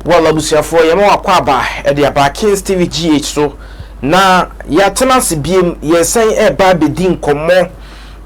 Well abusuafoɔ yɛma mo akwaaba de aba Kings TV GH so na yɛatena ase biom yɛresan ɛreba abɛdi nkɔmmɔ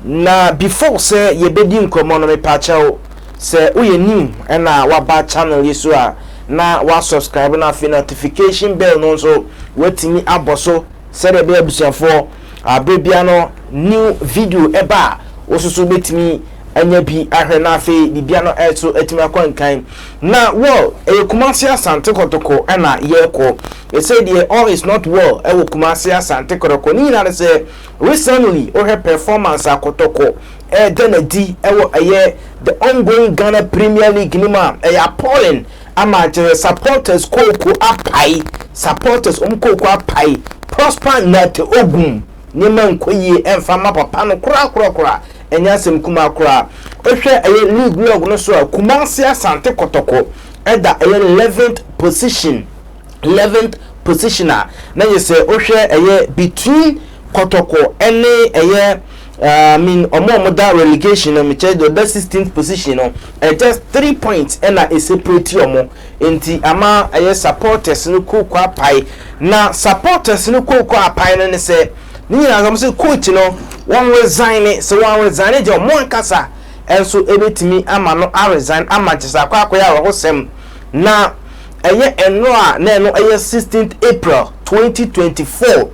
na before sɛ yɛbɛdi nkɔmmɔ no mepaakyɛw sɛ woyɛ new ɛna waba channel yi so a na wa subscribe na afei notification bell no nso watumi abɔ so Sɛdeɛ ɛbɛyɛ abusuafoɔ a berɛ biara no new video ɛba a wososo bɛtumi anya bi ahwɛ na afei biribia no ɛso atumi akɔ nkan na well ɛyɛ Kumasi Asante Kɔtɔkɔ ɛna yɛkɔ ɛsɛ deɛ all is not well ɛwɔ Kumasi Asante Kɔtɔkɔ ne nyinaa ne sɛ recently wohwɛ performance a Kɔtɔkɔ ɛɛdɛ na di ɛwɔ ɛyɛ the ongoing Ghana Premier League no mu a ɛyɛ appalling Ama kyerɛ supporters kooko apae supporters wɔn kooko apae Prosper Nartey Ogum nneɛma nkɔ yie ɛmfa mma papa no koraa koraa koraa ɛnyɛ asɛm kumaa koraa wohwɛ ɛyɛ league log no so a Kumasi Asante Kɔtɔkɔ ɛda ɛyɛ eleventh position eleventh position a na yɛ sɛ wohwɛ ɛyɛ between Kɔtɔkɔ ɛne ɛyɛ Ah I mean ɔmo a ɔmo da relegation no mekyɛ deɛ ɔda sixteenth position no eh, just three points ɛna ɛseparate ɔmo nti ama ɛyɛ supporters no kooko apae na supporters no kooko apae no ne sɛ ne nyinaa sɛ ɔmo sɛ coach no wɔn resign ne sɛ wɔn resign ne deɛ ɔmo ankasa ɛnso ɛbɛtumi ama no a resign ama nkyɛ sɛ akɔ akɔyɛ awerɛhosɛm na ɛyɛ ɛno a na ɛno ɛyɛ sixteenth April twenty twenty four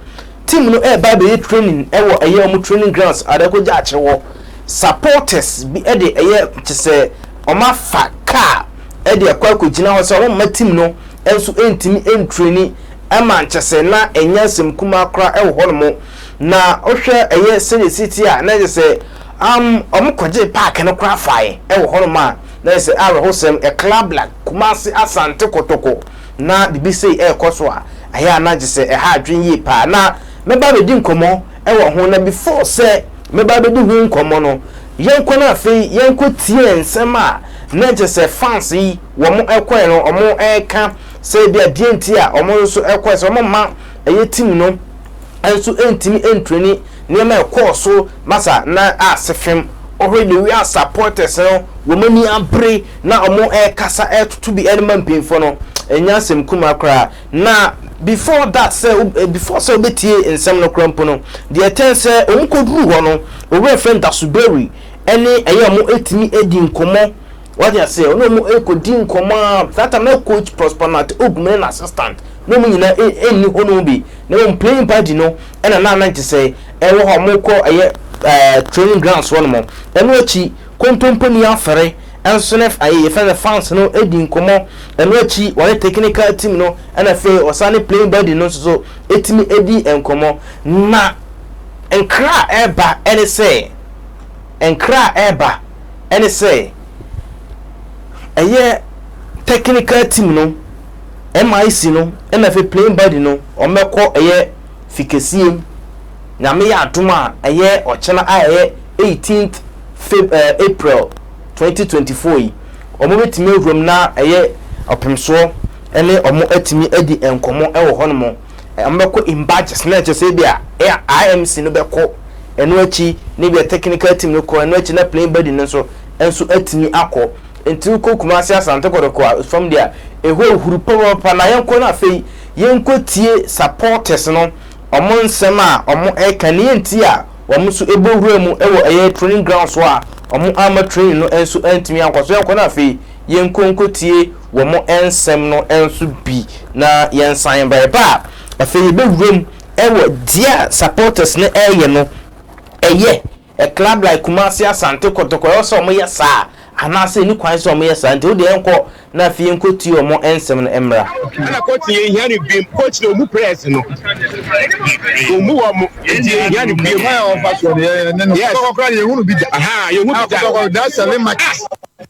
team no ɛɛba ɛbɛyɛ training ɛwɔ ɛyɛ ɔmo training grounds a ɛkɔ gya akyere hɔ supporters bi ɛde ɛyɛ kyesɛ ɔmo afa car ɛde ɛkɔ ɛkɔ gyina hɔ sɛ ɔmo mma team no ɛnso ɛntumi ɛntreni ɛma nkyesɛ na ɛnyɛ nsɛm kumaa kora ɛwɔ hɔ nom na ɔhwɛ ɛyɛ sɛdeɛ siti a na ɛkyesɛ um, ɔmo kɔgye park no kora fae ɛwɔ hɔ nom a na ɛkyesɛ awerɛhosɛm ɛkla black kumase asante kotoko na biribi sei rekɔ so a, ɛyɛ a na gye sɛ ɛha adwene yie pa ara. Na mɛba abɛdi nkɔmmɔ wɔ ho, na before sɛ mɛba abɛdi ho nkɔmmɔ no, yɛnkɔ na afei yɛnkɔ tie nsɛm a na gye sɛ fans yi wɔn kɔɛ no wɔn reka sɛ ebia deɛ nti a wɔn nso kɔɛ sɛ wɔn mma ɛyɛ team no. nso ntumi ntreni nneɛma a ɛkɔɔ so Masa na Asefem. Ɔhwɛ the way a supporters no wɔn ani abere na wɔrekasa retoto bi ɛde ma mpanyinfoɔ no ɛnyɛ asɛm kumaa koraa na before that sɛ before sɛ wɔbɛtie nsɛm no koraa mpo no deɛ ɛtɛn sɛ wɔn kɔduru hɔ no wɔwura fɛn dasoberi ɛne ɛyɛ wɔn ɛtumi adi nkɔmɔ Wate aseɛ, ɔne ɔmo ɛkɔdi nkɔmɔ a, that time na coach Prosper Nate Ogum ne n'assistant ne ɔmo nyina ɛnni hɔ nom bi, na mmom playing party no ɛna na na nkyesɛ ɛwɔ hɔ a ɔmo kɔ ɛyɛ training grounds hɔ nom, ɛno akyi kontomponi afɛre nso ne ɛyɛ yɛfrɛ no fans no ɛdi nkɔmɔ, ɛno akyi wɔne technical team no ɛna afei ɔsan ne playing buddy no nso so ɛtumi ɛdi nkɔmɔ, na nkra a ɛba ɛne sɛ. Nkra a ɛreba ne sɛ ɛyɛ technical team no, MIC no na afei playing body no wɔbɛkɔ ɛyɛ fikɛsie mu. Nyame yɛ adom a ɛyɛ ɔkyena a ɛyɛ 18th Feb eh, April 2024 yi, wɔn bɛtumi awuram na ɛyɛ ɔpemsoɔ ne wɔn atumi adi nkɔmmɔ wɔ hɔnom. wɔbɛkɔ in batches na ɛkyɛ sɛ ebi a IMC no bɛkɔ ɛno akyi na ebi a technical team no kɔ ɛno akyi na plain body no nso nso atumi akɔ nti wokɔ Kumasi Asante Kɔtɔkɔ a fam deɛ a ɛhɔ ahuru papapapa na yɛnkɔ no afei yɛnkɔ tie supporters no wɔn nsɛm a wɔn ɛka ne yɛnti a wɔn nso ɛbɔ wura mu ɛwɔ ɛyɛ training ground so a wɔn ama training no nso antumi ankɔ so yɛnkɔ no afei yɛnkɔ nkɔ tie wɔn nsɛm no nso bi na yɛnsan ba. Yɛba a, afei yɛbɛwura mu wɔ deɛ a supporters no reyɛ no. Ɛyɛ a club like Kumasi, Asante Kotoko, ɛwɔ sɛ wɔyɛ saa anaasɛ ɛnni kwan sɛ wɔyɛ saa. Nti wo deɛ yɛnkɔ na afei yɛnkɔtie wɔn nsɛm no mmra. Ɛna coach yɛ hia no biem coach na ɔmu press no ɔmu wɔ mo nti yɛ hia no biem yes yɛ hunu bi da aha yɛ hunu bi da.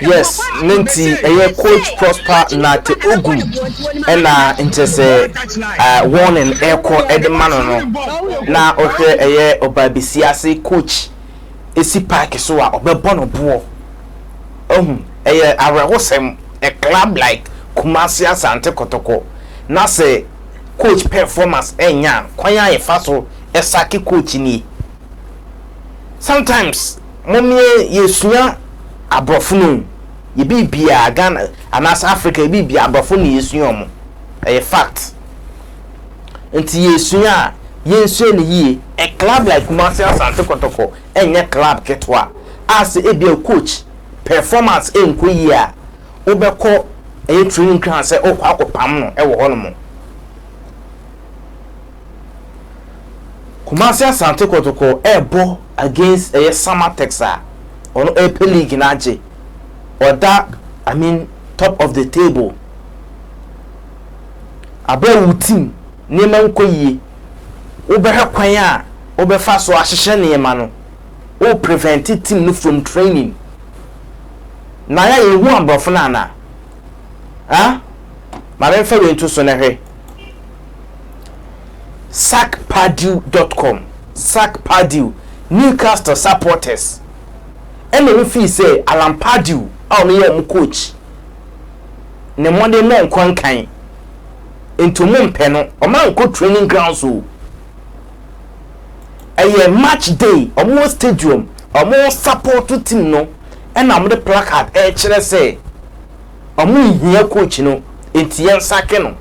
Yes ne nti ɛyɛ coach Prosper Nate Ogum ɛna nkyɛ sɛ uh, warning ɛkɔ ɛde ma no no na ɔhwɛ ɛyɛ ɔbaabesia ase coach esi park so a ɔbɛbɔ no boɔ ɛhu ɛyɛ awerɛhosɛm a club like Kumasi Asante Kotoko na sɛ coach performance ɛnya kwan a yɛfa so ɛsake coach nie. Sometimes momie yɛsua abrɔfo no o yɛ biribiaa Ghana anaasɛ Africa yɛ biribiaa abrɔfo no na yɛsua ɔmo ɛyɛ fact nti yɛsua a yɛnsua no yie a club like Kumasi Asante Kɔtɔkɔ ɛnyɛ club ketewa a sɛ ebia coach performance ɛnkɔ yie a wobɛkɔ ɛyɛ training ground sɛ wokɔ akɔ pam no ɛwɔ hɔ nom. Kumasi Asante Kɔtɔkɔ ɛɛbɔ against ɛyɛ Samatex a ɔno ɛɛpɛ league no agye. Ɔda I mean top of the table. Abrɛ a wo team nneɛma nkɔ yie, wobɛhwɛ kwan a wobɛfa so ahyehyɛ nneɛma no, wo prevent team no from training. Naya yɛnhu aborɔfo no anaa? Huh? Ma menfa wei nto so na hwɛ. Sacpadew.com, Sacpadew, Newcastle supporters ɛna ɔmo fii sɛ Alan Pardew a ɔno yɛ ɔmo coach ne mmɔden mɔ nkɔ nkan nti ɔmo mpɛ no ɔmo ankɔ training grounds o ɛyɛ match day ɔmo wɔ stadium ɔmo support team no ɛna ɔmo de placard ɛkyerɛ sɛ ɔmo nhia coach no nti yɛn sake no.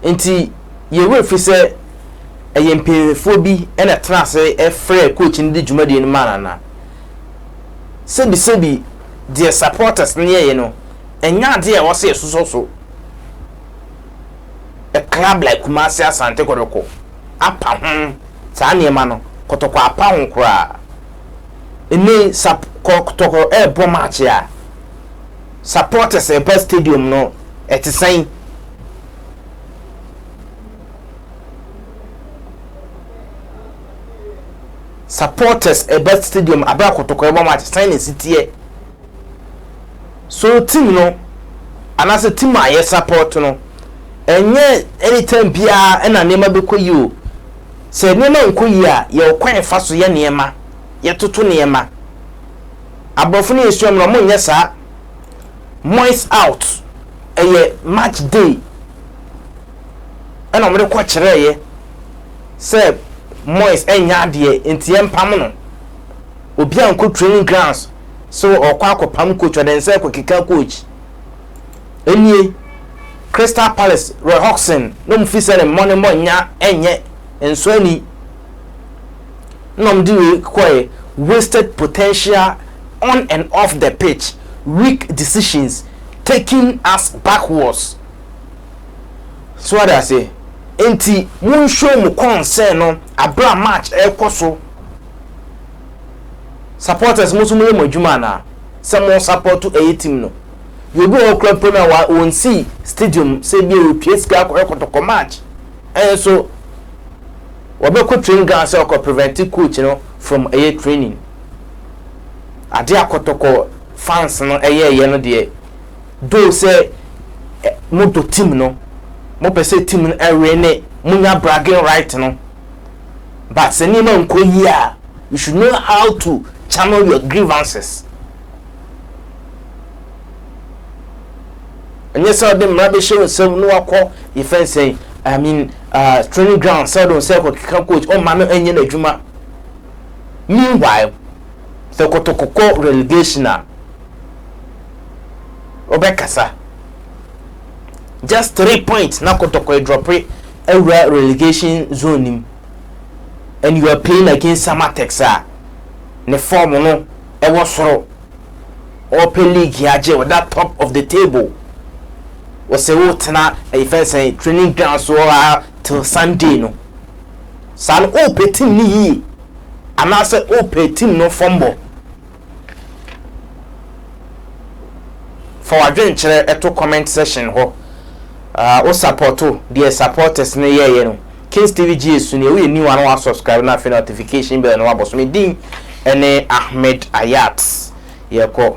Nti yɛn werɛ fi sɛ ɛyɛ mpanyinfoɔ bi na ɛtena ase frɛɛ coach no de dwumadie no maa no anaa? Sɛbisɛbi deɛ supporters no yɛeɛ no, ɛnyɛ adeɛ a ɛwɔ sɛ yɛsosɔ so. A club like Kumasi Asante Kɔtɔkɔ apa ho saa nneɛma no, Kɔtɔkɔ apa ho koraa. Ɛnnɛ yi, Kɔtɔkɔ ɛrebɔ match a, supporters ɛba stadium no ɛte sɛn? supporters ɛba stadium abira kotoko ɛbɔ match sɛn na esi teɛ so team no anaasɛ team a yɛ support no ɛnyɛ anytime biara ɛna nneɛma bɛkɔ yie o sɛ nneɛma nkɔ yie a yɛwɔ kwan fa so yɛ nneɛma yɛtoto nneɛma abrɔfo no yɛ suam no ɔmo nyɛ saa mois out ɛyɛ match day ɛna ɔmo de kɔ kyerɛ yɛ sɛ mois ɛnyɛ adeɛ nti yɛ mpam no obi a nkɔ training grounds so ɔkɔ akɔ pam coach ɔde nsɛ kɔ keka coach ɛnie crystal palace roy hodgson na ɔmo fi sɛ ne mmɔ ne mmɔ nya ɛnyɛ nso ani na wɔn de wei kɔɛ wasted potential on and off the pitch weak decisions taking us backwards so wate aseɛ nti mo nhyɛ mu concern no abere a match ɛkɔ so supporters mo so mo yɛ mo adwuma anaa sɛ mo support ɛyɛ team no yɛbi wɔ kura mpo no a wɔn si stadium sɛ bi a wɔtwa sika akɔyɛ kɔtɔkɔ match ɛnso Wɔbɛkɔ training ground sɛ ɔkɔ prevent coach no from ɛyɛ training. Ade a kɔtɔkɔ fans no ɛyɛɛyɛ no deɛ though sɛ mo dɔ team no, mo pɛ sɛ team no ɛwin ne, mo nya bragging right no but sɛ nneɛma nkɔ yie a you should know how to channel your grievances. ɛnyɛ sɛ ɔde mmara bɛhyɛ wo nsam na wakɔ yɛ fɛn sɛn i mean uh, training ground sɛ ɔde nsɛ kɔkeka coach ɔma no ɛnyɛ n'adwuma meanwhile sɛ kɔtɔkɔkɔ relegation a ɔbɛkasa just three points na kɔtɔkɔ adrɔpe awura relegation zone nim and you are playing against samatex a ne form no ɛwɔ soro Ɔɔpɛ league yi agye ɔda top of the table. Wɔsɛ wo tena ɛyi fɛn sɛn training ground so hɔ aa till Sunday no. Saa no ɔɔpɛ team no yie anaasɛ ɔɔpɛ team no fam bɔ. Fa w'adwenkyerɛ to comment section hɔ. Aa wo supporto deɛ supporters no yɛɛyɛ no. Kings TV gye yɛ su nie woyɛ new a na wa subscribe na afei notification bell no wabɔ so me din ɛne Ahmed Ayat yɛkɔ.